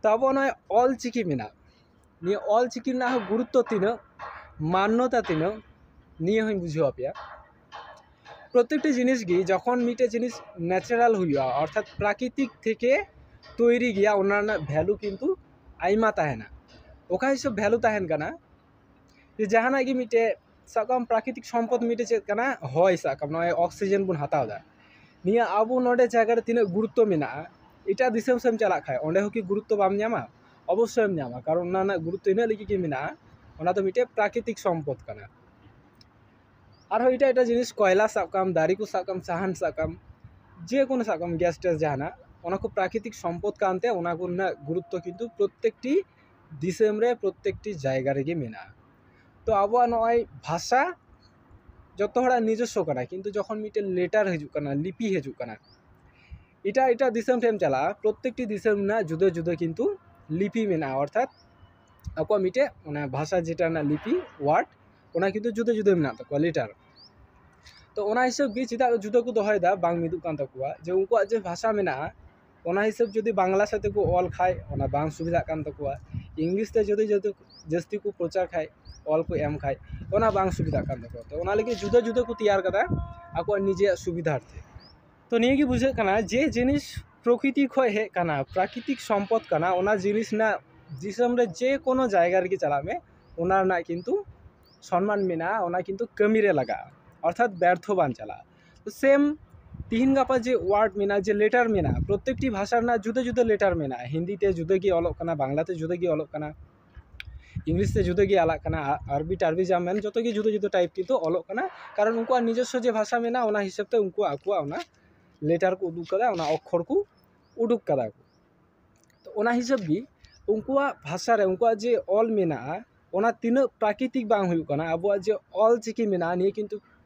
ᱛᱚ ᱟᱵᱚ ᱱᱚᱜᱼᱚᱭ ᱚᱞ ᱪᱤᱠᱤ ᱢᱮᱱᱟᱜ ᱱᱤᱭᱟᱹ ᱚᱞ ᱪᱤᱠᱤ ᱨᱮᱱᱟᱜ ᱦᱚᱸ ᱜᱩᱨᱩᱛᱛᱚ ᱛᱤᱱᱟᱹᱜ ᱢᱟᱱᱱᱚᱛᱟ ᱛᱤᱱᱟᱹᱜ ᱱᱤᱭᱟᱹ ᱦᱚᱸᱧ ᱵᱩᱡᱷᱟᱹᱣ ᱟᱯᱮᱭᱟ ᱯᱨᱚᱛᱮᱠᱴᱤ ᱡᱤᱱᱤᱥ ᱜᱮ ᱡᱚᱠᱷᱚᱱ ᱢᱤᱫᱴᱮᱡ ᱡᱤᱱᱤᱥ ᱱᱮᱪᱟᱨᱟᱞ ᱦᱩᱭᱩᱜᱼᱟ ᱚᱨᱛᱷᱟᱛ ᱯᱨᱟᱠᱨᱤᱛᱤᱠ ᱛᱷᱮᱠᱮ ᱛᱳᱭᱨᱤ ᱜᱮᱭᱟ ᱚᱱᱟ ᱨᱮᱱᱟᱜ ᱵᱷᱮᱞᱩ ᱠᱤᱱᱛᱩ ᱟᱭᱢᱟ ᱛᱟᱦᱮᱱᱟ ᱚᱠᱟ ᱦᱤᱥᱟᱹᱵ ᱵᱷᱮᱞᱩ ᱛᱟᱦᱮᱱ ᱠᱟᱱᱟ ᱡᱮ ᱡᱟᱦᱟᱱᱟᱜ ᱜᱮ ᱢᱤᱫᱴᱮᱡ ᱥᱟᱵ ᱠᱟᱜ ᱢᱮ ᱯᱨᱟᱠᱨᱤᱛᱤᱠ ᱥᱚᱢᱯᱚᱫ ᱢᱤᱫᱴᱮᱡ ᱪᱮᱫ ᱠᱟᱱᱟ ᱦᱚᱭ ᱥᱟᱵ ᱠᱟᱜ ᱢᱮ ᱱᱚᱜᱼᱚᱭ ᱚᱠᱥᱤᱡᱮᱱ ᱵᱚᱱ ᱦᱟᱛᱟᱣᱫᱟ ᱱᱤᱭᱟᱹ ᱟᱵᱚ ᱱᱚᱰᱮ ᱡᱟᱭᱜᱟ ᱨᱮ ᱛᱤᱱᱟᱹᱜ ᱜᱩᱨᱩᱛᱛᱚ ᱢᱮᱱᱟᱜᱼᱟ ᱮᱴᱟᱜ ᱫᱤᱥᱚᱢ ᱥᱮᱫ ᱮᱢ ᱪᱟᱞᱟᱜ ᱠᱷᱟᱡ ᱚᱸᱰᱮ ᱦᱚᱸᱠᱤ ᱜᱩᱨᱩᱛᱛᱚ ᱵᱟᱢ ᱧᱟᱢᱟ ᱚᱵᱚᱥᱥᱳᱭᱮᱢ ᱧᱟᱢᱟ ᱠᱟᱨᱚᱱ ᱚᱱᱟ ᱨᱮᱱᱟᱜ ᱜᱩᱨᱩᱛᱛᱚ ᱤᱱᱟᱹᱜ ᱞᱟᱹᱜᱤᱫ ᱜᱮ ᱢᱮᱱᱟᱜᱼᱟ ᱚᱱᱟ ᱫᱚ ᱢᱤᱫᱴᱮᱡ ᱯᱨᱟᱠᱨᱤᱛᱤᱠ ᱥᱚᱢᱯᱚᱫ ᱠᱟᱱᱟ ᱟᱨᱦᱚᱸ ᱮᱴᱟᱜ ᱮᱴᱟᱜ ᱡᱤᱱᱤᱥ ᱠᱚᱭᱞᱟ ᱥᱟᱵ ᱠᱟᱜ ᱢᱮ ᱫᱟᱨᱮ ᱠᱚ ᱥᱟᱵ ᱠᱟᱜ ᱢᱮ ᱥᱟᱦᱟᱱ ᱥᱟᱵ ᱠᱟᱜ ᱢᱮ ᱡᱮᱠᱳᱱᱳ ᱥᱟᱵ ᱠᱟᱜ ᱢᱮ ᱜᱮᱥ ᱴᱮᱥ ᱡᱟᱦᱟᱱᱟᱜ ᱚᱱᱟ ᱠᱚ ᱯᱨᱟᱠᱨᱤᱛᱤᱠ ᱥᱚᱢᱯᱚᱫ ᱠᱟᱱᱛᱮ ᱚᱱᱟ ᱠᱚ ᱨᱮᱱᱟᱜ ᱜᱩᱨᱩᱛᱛᱚ ᱠᱤᱱᱛᱩ ᱯᱨᱚᱛᱛᱮᱠᱴᱤ ᱫᱤᱥᱚᱢ ᱨᱮ ᱯᱨᱚᱛᱛᱮᱠᱴᱤ ᱡᱟᱭᱜᱟ ᱨᱮᱜᱮ ᱢᱮᱱᱟᱜᱼᱟ ᱛᱚ ᱟᱵᱚᱣᱟᱜ ᱱᱚᱜᱼᱚᱸᱭ ᱵᱷᱟᱥᱟ ᱡᱚᱛᱚ ᱦᱚᱲᱟᱜ ᱱᱤᱡᱚᱥᱥᱚ ᱠᱟᱱᱟ ᱠᱤᱱᱛᱩ ᱡᱚᱠᱷᱚᱱ ᱢᱤᱫᱴᱮᱱ ᱞᱮᱴᱟᱨ ᱦᱤᱡᱩᱜ ᱠᱟᱱᱟ ᱞᱤᱯᱤ ᱦᱤᱡᱩᱜ ᱠᱟᱱᱟ ᱮᱴᱟᱜ ᱮᱴᱟᱜ ᱫᱤᱥᱚᱢ ᱴᱷᱮᱱ ᱮᱢ ᱪᱟᱞᱟᱜᱼᱟ ᱯᱨᱚᱛᱮᱠᱴᱤ ᱫᱤᱥᱚᱢ ᱨᱮᱱᱟᱜ ᱡᱩᱫᱟᱹ ᱡᱩᱫᱟᱹ ᱠᱤᱱᱛᱩ ᱞᱤᱯᱤ ᱢᱮᱱᱟᱜᱼᱟ ᱚᱨᱛᱷᱟᱛ ᱟᱠᱚᱣᱟᱜ ᱢᱤᱫᱴᱮᱡ ᱚᱱᱟ ᱵᱷᱟᱥᱟ ᱡᱮᱴᱟ ᱨᱮᱱᱟᱜ ᱞᱤᱯᱤ ᱚᱣᱟᱨᱰ ᱚᱱᱟ ᱠᱤᱱᱛᱩ ᱡᱩᱫᱟᱹ ᱡᱩᱫᱟᱹ ᱢᱮᱱᱟᱜ ᱛᱟᱠᱚᱣᱟ ᱞᱮᱴᱟᱨ ᱛᱚ ᱚᱱᱟ ᱦᱤᱥᱟᱹᱵ ᱜᱮ ᱪᱮᱫᱟᱜ ᱡᱩᱫᱟᱹ ᱠᱚ ᱫᱚᱦᱚᱭᱮᱫᱟ ᱵᱟᱝ ᱢᱤᱫᱚᱜ ᱠᱟᱱ ᱛᱟᱠᱚᱣᱟ ᱡᱮ ᱩᱱᱠᱩᱣᱟᱜ ᱡᱮ ᱵᱷᱟᱥᱟ ᱢᱮᱱᱟᱜᱼᱟ ᱚᱱᱟ ᱦᱤᱥᱟᱹᱵ ᱡᱩᱫᱤ ᱵᱟᱝᱞᱟ ᱥᱟᱛᱮ ᱠᱚ ᱚᱞ ᱠᱷᱟᱡ ᱚᱱᱟ ᱵᱟᱝ ᱥᱩᱵᱤᱫᱷᱟᱜ ᱠᱟᱱ ᱛᱟᱠᱚᱣᱟ ᱤᱝᱞᱤᱥ ᱛᱮ ᱡᱩᱫᱤ ᱡᱟᱹᱥᱛᱤ ᱠᱚ ᱯᱨᱚᱪᱟᱨ ᱠᱷᱟᱡ ᱚᱞ ᱠᱚ ᱮᱢ ᱠᱷᱟᱡ ᱚᱱᱟ ᱵᱟᱝ ᱥᱩᱵᱤᱫᱷᱟᱜ ᱠᱟᱱ ᱛᱟᱠᱚᱣᱟ ᱛᱚ ᱚᱱᱟ ᱞᱟᱹᱜᱤᱫ ᱡᱩᱫᱟᱹ ᱡᱩᱫᱟᱹ ᱠᱚ ᱛᱮᱭᱟᱨ ᱠᱟᱫᱟ ᱟᱠᱚᱣᱟᱜ ᱱᱤᱡᱮᱨᱟᱜ ᱥᱩᱵᱤᱫᱷᱟ ᱟᱨᱠᱤ ᱛᱚ ᱱᱤᱭᱟᱹ ᱜᱮ ᱵᱩᱡᱷᱟᱹᱜ ᱠᱟᱱᱟ ᱡᱮ ᱡᱤᱱᱤᱥ ᱯᱨᱚᱠᱨᱤᱛᱤ ᱠᱷᱚᱡ ᱦᱮᱡ ᱠᱟᱱᱟ ᱯᱨᱟᱠᱨᱤᱛᱤᱠ ᱥᱚᱢᱯᱚᱫ ᱠᱟᱱᱟ ᱚᱱᱟ ᱡᱤᱱᱤᱥ ᱨᱮᱱᱟᱜ ᱫᱤᱥᱚᱢ ᱨᱮ ᱡᱮ ᱠᱳᱱᱳ ᱡᱟᱭᱜᱟ ᱨᱮᱜᱮ ᱪᱟᱞᱟᱜ ᱢᱮ ᱚᱱᱟ ᱨᱮᱱᱟᱜ ᱠᱤᱱᱛᱩ ᱥᱚᱱᱢᱟᱱ ᱢᱮᱱᱟᱜᱼᱟ ᱚᱱᱟ ᱠᱤᱱᱛᱩ ᱠᱟᱹᱢᱤᱨᱮ ᱞᱟᱜᱟᱜᱼᱟ ᱚᱨᱛᱷᱟᱛ ᱵᱮᱨᱛᱷᱚ ᱵᱟᱝ ᱪᱟᱞᱟᱜᱼᱟ ᱥᱮᱢ ᱛᱤᱦᱤᱧ ᱜᱟᱯᱟ ᱡᱮ ᱳᱣᱟᱨᱰ ᱢᱮᱱᱟᱜᱼᱟ ᱡᱮ ᱞᱮᱴᱟᱨ ᱢᱮᱱᱟᱜᱼᱟ ᱯᱨᱚᱛᱮᱠᱴᱤ ᱵᱷᱟᱥᱟ ᱨᱮᱱᱟᱜ ᱡᱩᱫᱟᱹ ᱡᱩᱫᱟᱹ ᱞᱮᱴᱟᱨ ᱢᱮᱱᱟᱜᱼᱟ ᱦᱤᱱᱫᱤ ᱛᱮ ᱡᱩᱫᱟᱹ ᱜᱮ ᱚᱞᱚᱜ ᱠᱟᱱᱟ ᱵᱟᱝᱞᱟ ᱛᱮ ᱡᱩᱫᱟᱹ ᱜᱮ ᱚᱞᱚᱜ ᱠᱟᱱᱟ ᱤᱝᱞᱤᱥ ᱛᱮ ᱡᱩᱫᱟᱹ ᱜᱮ ᱟᱞᱟᱜ ᱠᱟᱱᱟ ᱟᱨᱵᱤ ᱴᱟᱨᱵᱤ ᱡᱟ ᱢᱮᱱ ᱡᱚᱛᱚ ᱜᱮ ᱡᱩᱫᱟᱹ ᱡᱩᱫᱟᱹ ᱴᱟᱭᱤᱯ ᱠᱤᱱᱛᱩ ᱚᱞᱚᱜ ᱠᱟᱱᱟ ᱠᱟᱨᱚᱱ ᱩᱱᱠᱩᱣᱟᱜ ᱱᱤᱡᱚᱥᱥᱚ ᱡᱮ ᱵᱷᱟᱥᱟ ᱢᱮᱱᱟᱜᱼᱟ ᱚᱱᱟ ᱦᱤᱥᱟᱹᱵ ᱛᱮ ᱩᱱᱠᱩᱣᱟᱜ ᱟᱠᱚᱣᱟᱜ ᱚᱱᱟ ᱞᱮᱴᱟᱨ ᱠᱚ ᱩᱫᱩᱜ ᱠᱟᱫᱟ ᱚᱱᱟ ᱚᱠᱠᱷᱚᱨ ᱠᱚ ᱩᱰᱩᱠ ᱠᱟᱫᱟ ᱠᱚ ᱛᱚ ᱚᱱᱟ ᱦᱤᱥᱟᱹᱵ ᱜᱮ ᱩᱱᱠᱩᱣᱟᱜ ᱵᱷᱟᱥᱟ ᱨᱮ ᱩᱱᱠᱩᱣᱟᱜ ᱡᱮ ᱚᱞ ᱢᱮᱱᱟᱜᱼᱟ ᱚᱱᱟ ᱛᱤᱱᱟᱹᱜ ᱯᱨᱟᱠᱨᱤᱛᱤᱠ ᱵᱟᱝ ᱦᱩᱭᱩᱜ ᱠᱟᱱᱟ ᱟᱵᱚᱣᱟᱜ ᱡᱮ ᱚᱞ ᱪᱤᱠᱤ ᱢᱮᱱᱟᱜᱼᱟ ᱱᱤᱭᱟᱹ ᱠᱤᱱᱛᱩ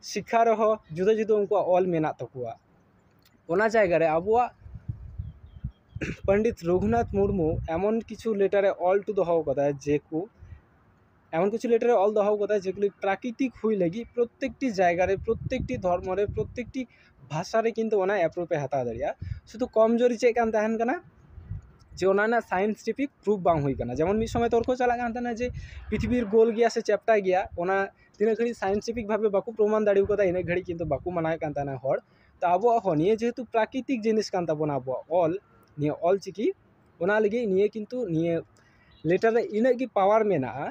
ᱥᱤᱠᱠᱷᱟ ᱨᱮᱦᱚᱸ ᱡᱩᱫᱟᱹ ᱡᱩᱫᱟᱹ ᱩᱱᱠᱩᱣᱟᱜ ᱚᱞ ᱢᱮᱱᱟᱜ ᱛᱟᱠᱚᱣᱟ ᱚᱱᱟ ᱡᱟᱭᱜᱟ ᱨᱮ ᱟᱵᱚᱣᱟᱜ ᱯᱚᱱᱰᱤᱛ ᱨᱚᱜᱷᱩᱱᱟᱛᱷ ᱢᱩᱨᱢᱩ ᱮᱢᱚᱱ ᱠᱤᱪᱷᱩ ᱞᱮᱴᱟᱨᱮ ᱚᱞ ᱦᱚᱴᱚ ᱫᱚᱦᱚ ᱠᱟᱫᱟᱭ ᱡᱮ ᱠᱚ ᱮᱢᱚᱱ ᱠᱤᱪᱷᱩ ᱞᱮᱴᱟᱨᱮ ᱚᱞ ᱫᱚᱦᱚ ᱠᱟᱫᱟᱭ ᱡᱮᱜᱩᱞᱤ ᱯᱨᱟᱠᱨᱤᱛᱤᱠ ᱦᱩᱭ ᱞᱟᱹᱜᱤᱫ ᱯᱨᱚᱛᱛᱮᱠᱴᱤ ᱡᱟᱭᱜᱟ ᱨᱮ ᱯᱨᱚᱛᱛᱮᱠᱴᱤ ᱫᱷᱚᱨᱢᱚ ᱨᱮ ᱯᱨᱚᱛᱛᱮᱠᱴᱤ ᱵᱷᱟᱥᱟ ᱨᱮ ᱠᱤᱱᱛᱩ ᱚᱱᱟ ᱮᱯᱨᱩᱵᱷ ᱮ ᱦᱟᱛᱟᱣ ᱫᱟᱲᱮᱭᱟᱜᱼᱟ ᱥᱩᱫᱩ ᱠᱚᱢ ᱡᱳᱨᱤ ᱪᱮᱫ ᱠᱟᱱ ᱛᱟᱦᱮᱱ ᱠᱟᱱᱟ ᱡᱮ ᱚᱱᱟ ᱨᱮᱱᱟᱜ ᱥᱟᱭᱮᱱᱴᱤᱯᱷᱤᱠ ᱯᱨᱩᱵᱷ ᱵᱟᱝ ᱦᱩᱭ ᱠᱟᱱᱟ ᱡᱮᱢᱚᱱ ᱢᱤᱫ ᱥᱚᱢᱚᱭ ᱛᱚᱨᱠᱚ ᱪᱟᱞᱟᱜ ᱠᱟᱱ ᱛᱟᱦᱮᱱᱟ ᱡᱮ ᱯᱨᱤᱛᱷᱤᱵᱤ ᱜᱳᱞ ᱜᱮᱭᱟ ᱥᱮ ᱪᱮᱯᱴᱟ ᱜᱮᱭᱟ ᱚᱱᱟ ᱛᱤᱱᱟᱹᱜ ᱜᱷᱟᱹᱲᱤᱡ ᱥᱟᱭᱮᱱᱴᱤᱯᱷᱤᱠ ᱵᱷᱟᱵᱮ ᱵᱟᱠᱚ ᱯᱨᱚᱢᱟᱱ ᱫᱟᱲᱮ ᱠᱟᱣᱫᱟ ᱤᱱᱟᱹᱜ ᱜᱷᱟᱹᱲᱤᱡ ᱠᱤᱱᱛᱩ ᱵᱟᱠᱚ ᱢᱟᱱᱟᱣᱮᱫ ᱠᱟᱱ ᱛᱟᱦᱮᱱᱟ ᱦᱚᱲ ᱛᱚ ᱟᱵᱚᱣᱟᱜ ᱦᱚᱸ ᱱᱤᱭᱟᱹ ᱡᱮᱦᱮᱛᱩ ᱯᱨᱟᱠᱨᱤᱛᱤᱠ ᱡᱤᱱᱤᱥ ᱠᱟᱱ ᱛᱟᱵᱚᱱᱟ ᱟᱵᱚᱣᱟᱜ ᱚᱞ ᱱᱤᱭᱟᱹ ᱚᱞ ᱪᱤᱠᱤ ᱚᱱᱟ ᱞᱟᱹᱜᱤᱫ ᱱᱤᱭᱟᱹ ᱠᱤᱱᱛᱩ ᱱᱤᱭᱟᱹ ᱞᱮᱴᱟᱨ ᱨᱮ ᱤᱱᱟᱹᱜ ᱜᱮ ᱯᱟᱣᱟᱨ ᱢᱮᱱᱟᱜᱼᱟ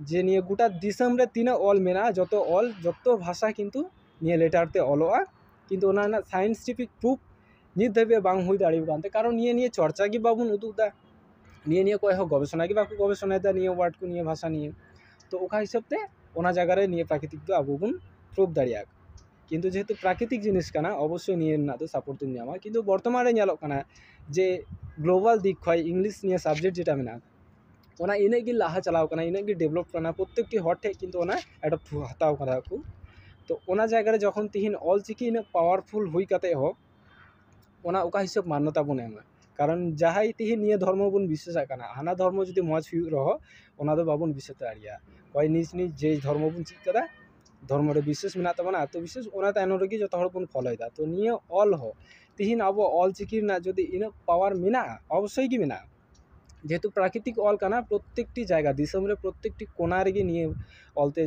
ᱡᱮ ᱱᱤᱭᱟᱹ ᱜᱳᱴᱟ ᱫᱤᱥᱚᱢ ᱨᱮ ᱛᱤᱱᱟᱹᱜ ᱚᱞ ᱢᱮᱱᱟᱜᱼᱟ ᱡᱚᱛᱚ ᱚᱞ ᱡᱚᱛᱚ ᱵᱷᱟᱥᱟ ᱠᱤᱱᱛᱩ ᱱᱤᱭᱟᱹ ᱞᱮᱴᱟᱨ ᱛᱮ ᱚᱞᱚᱜᱼᱟ ᱠᱤᱱᱛᱩ ᱚᱱᱟ ᱨᱮᱱᱟᱜ ᱥᱟᱭᱮᱱᱴᱤᱯᱷᱤᱠ ᱯᱨᱩᱯᱷ ᱱᱤᱛ ᱫᱷᱟᱹᱵᱤᱡ ᱵᱟᱝ ᱦᱩᱭ ᱫᱟᱲᱮ ᱠᱟᱱ ᱛᱮ ᱠᱟᱨᱚᱱ ᱱᱤᱭᱟᱹ ᱱᱤᱭᱮ ᱪᱚᱨᱪᱟ ᱜᱮ ᱵᱟᱵᱚᱱ ᱩᱫᱩᱜ ᱮᱫᱟ ᱱᱤᱭᱟᱹ ᱱᱤᱭᱮ ᱚᱠᱚᱭ ᱦᱚᱸ ᱜᱚᱵᱮᱥᱚᱱᱟ ᱜᱮ ᱵᱟᱠᱚ ᱜᱚᱵᱮᱥᱚᱱᱟᱭᱮᱫᱟ ᱱᱤᱭᱟᱹ ᱳᱣᱟᱨᱰ ᱠᱚ ᱱᱤᱭᱟᱹ ᱵᱷᱟᱥᱟ ᱱᱤᱭᱮ ᱛᱳ ᱚᱠᱟ ᱦᱤᱥᱟᱹᱵ ᱛᱮ ᱚᱱᱟ ᱡᱟᱭᱜᱟ ᱨᱮ ᱱᱤᱭᱟᱹ ᱯᱨᱟᱠᱨᱤᱛᱤᱠ ᱫᱚ ᱟᱵᱚ ᱵᱚᱱ ᱯᱨᱩᱵᱷ ᱫᱟᱲᱮᱭᱟᱜᱼᱟ ᱠᱤᱱᱛᱩ ᱡᱮᱦᱮᱛᱩ ᱯᱨᱟᱠᱨᱤᱛᱤᱠ ᱡᱤᱱᱤᱥ ᱠᱟᱱᱟ ᱚᱵᱚᱥᱥᱳᱭ ᱱᱤᱭᱟᱹ ᱨᱮᱱᱟᱜ ᱫᱚ ᱥᱟᱯᱳᱨᱴ ᱫᱚᱢ ᱧᱟᱢᱟ ᱠᱤᱱᱛᱩ ᱵᱚᱨᱛᱚᱢᱟᱱ ᱨᱮ ᱧᱮᱞᱚᱜ ᱠᱟᱱᱟ ᱡᱮ ᱜᱞᱳᱵᱟᱞ ᱫᱤᱠ ᱠᱷᱚᱡ ᱤᱝᱞᱤᱥ ᱱᱤᱭᱮ ᱥᱟᱵᱡᱮᱠᱴ ᱡᱮᱴᱟ ᱢᱮᱱᱟᱜᱼᱟ ᱚᱱᱟ ᱤᱱᱟᱹᱜ ᱜᱮ ᱞᱟᱦᱟ ᱪᱟᱞᱟᱣ ᱠᱟᱱᱟ ᱤᱱᱟᱹᱜ ᱜᱮ ᱰᱮᱵᱷᱞᱚᱯ ᱠᱟᱱᱟ ᱯᱨᱚᱛᱮᱠᱴᱤ ᱦᱚᱲ ᱴᱷᱮᱡ ᱠᱤᱱᱛᱩ ᱚᱱᱟ ᱮᱰᱚᱯᱴ ᱦᱟᱛᱟᱣ ᱠᱟᱫᱟ ᱠᱚ ᱛᱚ ᱚᱱᱟ ᱡᱟᱭᱜᱟ ᱨᱮ ᱡᱚᱠᱷᱚᱱ ᱛᱤᱦᱤᱧ ᱚᱞ ᱪᱤᱠᱤ ᱤᱱᱟᱹᱜ ᱯᱟᱣᱟᱨᱯᱷᱩᱞ ᱦᱩᱭ ᱠᱟᱛᱮ ᱦᱚᱸ ᱚᱱᱟ ᱚᱠᱟ ᱦᱤᱥᱟᱹᱵ ᱢᱟᱱᱱᱚᱛᱟ ᱵᱚᱱ ᱮᱢᱟ ᱠᱟᱨᱚᱱ ᱡᱟᱦᱟᱸᱭ ᱛᱤᱦᱤᱧ ᱱᱤᱭᱟᱹ ᱫᱷᱚᱨᱢᱚ ᱵᱚᱱ ᱵᱤᱥᱥᱟᱹᱥᱟᱜ ᱠᱟᱱᱟ ᱦᱟᱱᱟ ᱫᱷᱚᱨᱢᱚ ᱡᱩᱫᱤ ᱢᱚᱡᱽ ᱦᱩᱭᱩᱜ ᱨᱮᱦᱚᱸ ᱚᱱᱟ ᱫᱚ ᱵᱟᱵᱚᱱ ᱵᱤᱥᱥᱟᱹᱥ ᱫᱟᱲᱮᱭᱟᱜᱼᱟ ᱚᱠᱚᱭ ᱱᱤᱡᱽ ᱱᱤᱡᱽ ᱡᱮ ᱫᱷᱚᱨᱢᱚ ᱵᱚᱱ ᱪᱮᱫ ᱠᱟᱫᱟ ᱫᱷᱚᱨᱢᱚ ᱨᱮ ᱵᱤᱥᱥᱟᱹᱥ ᱢᱮᱱᱟᱜ ᱛᱟᱵᱚᱱᱟ ᱟᱛᱚ ᱵᱤᱥᱥᱟᱹᱥ ᱚᱱᱟ ᱛᱟᱭᱱᱚᱢ ᱨᱮᱜᱮ ᱡᱚᱛᱚ ᱦᱚᱲ ᱵᱚᱱ ᱯᱷᱳᱞᱳᱭᱫᱟ ᱛᱚ ᱱᱤᱭᱟᱹ ᱚᱞ ᱦᱚᱸ ᱛᱤᱦᱤᱧ ᱟᱵᱚ ᱚᱞ ᱪᱤᱠᱤ ᱨᱮᱱᱟᱜ ᱡᱩᱫᱤ ᱤᱱᱟᱹᱜ ᱯᱟᱣᱟᱨ ᱢᱮᱱᱟᱜᱼᱟ ᱚᱵᱚᱥᱥᱳᱭ ᱜᱮ ᱢᱮᱱᱟᱜᱼᱟ ᱡᱮᱦᱮᱛᱩ ᱯᱨᱟᱠᱨᱤᱛᱤᱠ ᱚᱞ ᱠᱟᱱᱟ ᱯᱨᱚᱛᱛᱮᱠᱴᱤ ᱡᱟᱭᱜᱟ ᱫᱤᱥᱚᱢ ᱨᱮ ᱯᱨᱚᱛᱛᱮᱠᱴᱤ ᱠᱚᱱᱟ ᱨᱮᱜᱮ ᱱᱤᱭᱟᱹ ᱚᱞ ᱛᱮ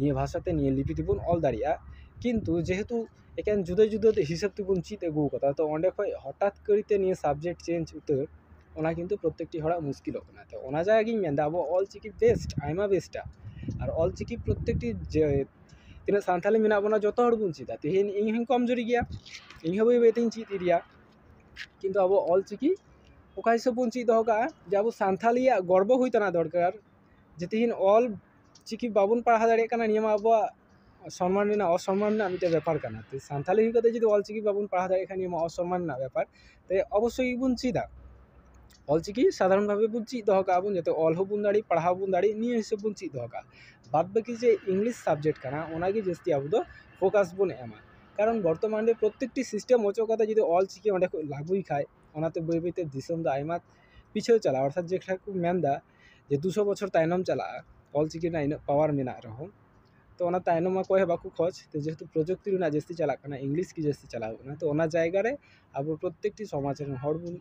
ᱱᱤᱭᱟᱹ ᱵᱷᱟᱥᱟ ᱛᱮ ᱱᱤᱭᱟᱹ ᱞᱤᱯᱤ ᱛᱮᱵᱚᱱ ᱚᱞ ᱫᱟᱲᱮᱭᱟᱜᱼᱟ ᱠᱤᱱᱛᱩ ᱡᱮᱦᱮᱛᱩ ᱮᱠᱮᱱ ᱡᱩᱫᱟᱹ ᱡᱩᱫᱟᱹ ᱦᱤᱥᱟᱹᱵ ᱛᱮᱵᱚᱱ ᱪᱮᱫ ᱟᱹᱜᱩᱣ ᱠᱟᱫᱟ ᱛᱚ ᱚᱸᱰᱮ ᱠᱷᱚᱡ ᱦᱚᱴᱟᱛ ᱠᱟᱹᱨᱤᱛᱮ ᱱᱤᱭᱟᱹ ᱥᱟᱵᱡᱮᱠᱴ ᱪᱮᱧᱡᱽ ᱩᱛᱟᱹᱨ ᱚᱱᱟ ᱠᱤᱱᱛᱩ ᱯᱨᱚᱛᱛᱮᱠᱴᱤ ᱦᱚᱲᱟᱜ ᱢᱩᱥᱠᱤᱞᱚᱜ ᱠᱟᱱᱟ ᱛᱚ ᱚᱱᱟ ᱡᱟᱭᱜᱟ ᱜᱤᱧ ᱢᱮᱱᱫᱟ ᱟᱵᱚᱣᱟᱜ ᱚᱞ ᱪᱤᱠᱤ ᱵᱮᱥᱴ ᱟᱭᱢᱟ ᱵᱮᱥᱴᱟ ᱟᱨ ᱚᱞ ᱪᱤᱠᱤ ᱯᱨᱚᱛᱛᱮᱠᱴᱤ ᱡᱮ ᱛᱤᱱᱟᱹᱜ ᱥᱟᱱᱛᱟᱲᱤ ᱢᱮᱱᱟᱜ ᱵᱚᱱᱟ ᱡᱚᱛᱚ ᱦᱚᱲ ᱵᱚᱱ ᱪᱮᱫᱟ ᱛᱮᱦᱮᱧ ᱤᱧ ᱦᱚᱸᱧ ᱠᱚᱢ ᱡᱩᱨᱤ ᱜᱮᱭᱟ ᱤᱧ ᱦᱚᱸ ᱵᱟᱹᱭ ᱵᱟᱹᱭ ᱛᱤᱧ ᱪᱮᱫ ᱤᱫᱤᱭᱟ ᱠᱤᱱᱛᱩ ᱟᱵᱚ ᱚᱞ ᱪᱤᱠᱤ ᱚᱠᱟ ᱦᱤᱥᱟᱹᱵ ᱵᱚᱱ ᱪᱮᱫ ᱫᱚᱦᱚ ᱠᱟᱜᱼᱟ ᱡᱮ ᱟᱵᱚ ᱥᱟᱱᱛᱷᱟᱞᱤᱭᱟᱜ ᱜᱚᱨᱵᱚ ᱦᱩᱭ ᱛᱟᱦᱮᱱᱟ ᱫᱚᱨᱠᱟᱨ ᱡᱮ ᱛᱮᱦᱤᱧ ᱚᱞ ᱪᱤᱠᱤ ᱵᱟᱵᱚᱱ ᱯᱟᱲᱦᱟᱣ ᱫᱟᱲᱮᱭᱟᱜ ᱠᱟᱱᱟ ᱱᱤᱭᱟᱹ ᱢᱟ ᱟᱵᱚᱣᱟᱜ ᱥᱚᱱᱢᱟᱱ ᱨᱮᱱᱟᱜ ᱚᱥᱚᱱᱢᱟᱱ ᱨᱮᱱᱟᱜ ᱢᱤᱫᱴᱮᱡ ᱵᱮᱯᱟᱨ ᱠᱟᱱᱟ ᱛᱚ ᱥᱟᱱᱛᱷᱟᱞᱤ ᱦᱩᱭ ᱠᱟᱛᱮ ᱡᱩᱫᱤ ᱚᱞ ᱪᱤᱠᱤ ᱵᱟᱵᱚᱱ ᱯᱟᱲᱦᱟᱣ ᱫᱟᱲᱮᱭᱟᱜ ᱠᱷᱟᱡ ᱱᱤᱭᱟᱹ ᱢᱟ ᱚᱥᱚᱱᱢᱟᱱ ᱨᱮᱱᱟᱜ ᱵᱮᱯᱟᱨ ᱛᱟᱭᱮ ᱚᱵᱚᱥᱥᱳᱭ ᱜᱮᱵᱚᱱ ᱪᱮᱫᱟ ᱚᱞ ᱪᱤᱠᱤ ᱥᱟᱫᱷᱟᱨᱚᱱ ᱵᱷᱟᱵᱮ ᱵᱚᱱ ᱪᱮᱫ ᱫᱚᱦᱚ ᱠᱟᱜᱼᱟ ᱵᱚᱱ ᱡᱟᱛᱮ ᱚᱞ ᱦᱚᱸᱵᱚᱱ ᱫᱟᱲᱮᱜ ᱯᱟᱲᱦᱟᱣ ᱦᱚᱸᱵᱚᱱ ᱫᱟᱲᱮᱜ ᱱᱤᱭᱟᱹ ᱦᱤᱥᱟᱹᱵ ᱵᱚᱱ ᱪᱮᱫ ᱫᱚᱦᱚ ᱠᱟᱜᱼᱟ ᱵᱟᱫ ᱵᱟᱹᱠᱤ ᱡᱮ ᱤᱝᱞᱤᱥ ᱥᱟᱵᱡᱮᱠᱴ ᱠᱟᱱᱟ ᱚᱱᱟᱜᱮ ᱡᱟᱹᱥᱛᱤ ᱟᱵᱚ ᱫᱚ ᱯᱷᱳᱠᱟᱥ ᱵᱚᱱ ᱮᱢᱟ ᱠᱟᱨᱚᱱ ᱵᱚᱨᱛᱚᱢᱟᱱ ᱨᱮ ᱯᱨᱚᱛᱮᱠᱴᱤ ᱥᱤᱥᱴᱮᱢ ᱚᱪᱚᱜ ᱠᱟᱛᱮ ᱡᱩᱫᱤ ᱚᱞ ᱪᱤᱠᱤ ᱚᱸᱰᱮ ᱠᱚ ᱞᱟᱹᱜᱩᱭ ᱠᱷᱟᱡ ᱚᱱᱟᱛᱮ ᱵᱟᱹᱭ ᱵᱟᱹᱭ ᱛᱮ ᱫᱤᱥᱚᱢ ᱫᱚ ᱟᱭᱢᱟ ᱯᱤᱪᱷᱟᱹᱣ ᱪᱟᱞᱟᱜᱼᱟ ᱚᱨᱛᱷᱟᱛ ᱡᱮ ᱞᱮᱠᱟ ᱠᱚ ᱢᱮᱱᱫᱟ ᱡᱮ ᱫᱩ ᱥᱚ ᱵᱚᱪᱷᱚᱨ ᱛᱟᱭᱱᱚᱢ ᱪᱟᱞᱟᱜᱼᱟ ᱚᱞ ᱪᱤᱠᱤ ᱨᱮᱱᱟᱜ ᱤᱱᱟᱹᱜ ᱯᱟᱣᱟᱨ ᱢᱮᱱᱟᱜ ᱨᱮᱦᱚᱸ ᱛᱚ ᱚᱱᱟ ᱛᱟᱭᱱᱚᱢ ᱢᱟ ᱚᱠᱚᱭ ᱦᱚᱸ ᱵᱟᱠᱚ ᱠᱷᱚᱡᱽ ᱛᱚ ᱡᱮᱦᱮᱛᱩ ᱯᱨᱚᱡᱩᱠᱛᱤ ᱨᱮᱱᱟᱜ ᱡᱟᱹᱥᱛᱤ ᱪᱟᱞᱟᱜ ᱠᱟᱱᱟ ᱤᱝᱞᱤᱥ ᱜᱮ ᱡᱟᱹᱥᱛᱤ ᱪᱟᱞᱟᱣ ᱠᱟᱱᱟ ᱛᱚ ᱚᱱᱟ ᱡᱟᱭᱜᱟ ᱨᱮ ᱟᱵᱚ ᱯᱨᱚᱛᱮᱠᱴᱤ ᱥᱚᱢᱟᱡᱽ ᱨᱮᱱ ᱦᱚᱲ ᱵᱚᱱ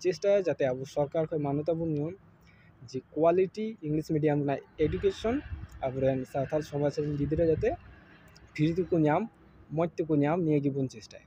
ᱪᱮᱥᱴᱟᱭᱟ ᱡᱟᱛᱮ ᱟᱵᱚ ᱥᱚᱨᱠᱟᱨ ᱠᱷᱚᱡ ᱢᱟᱱᱚᱛᱟ ᱵᱚᱱ ᱧᱟᱢ ᱡᱮ ᱠᱳᱣᱟᱞᱤᱴᱤ ᱤᱝᱞᱤᱥ ᱢᱤᱰᱤᱭᱟᱢ ᱨᱮᱱᱟᱜ ᱮᱰᱩᱠᱮᱥᱚᱱ ᱟᱵᱚ ᱨᱮᱱ ᱥᱟᱱᱛᱟᱲ ᱥᱚᱢᱟᱡᱽ ᱨᱮᱱ ᱜᱤᱫᱽᱨᱟᱹ ᱡᱟᱛᱮ ᱯᱷᱨᱤ ᱛᱮᱠᱚ ᱧᱟᱢ ᱢᱚᱡᱽ ᱛᱮᱠᱚ ᱧᱟᱢ ᱱᱤᱭᱟᱹ ᱜᱮᱵᱚᱱ ᱪᱮᱥᱴᱟᱭᱟ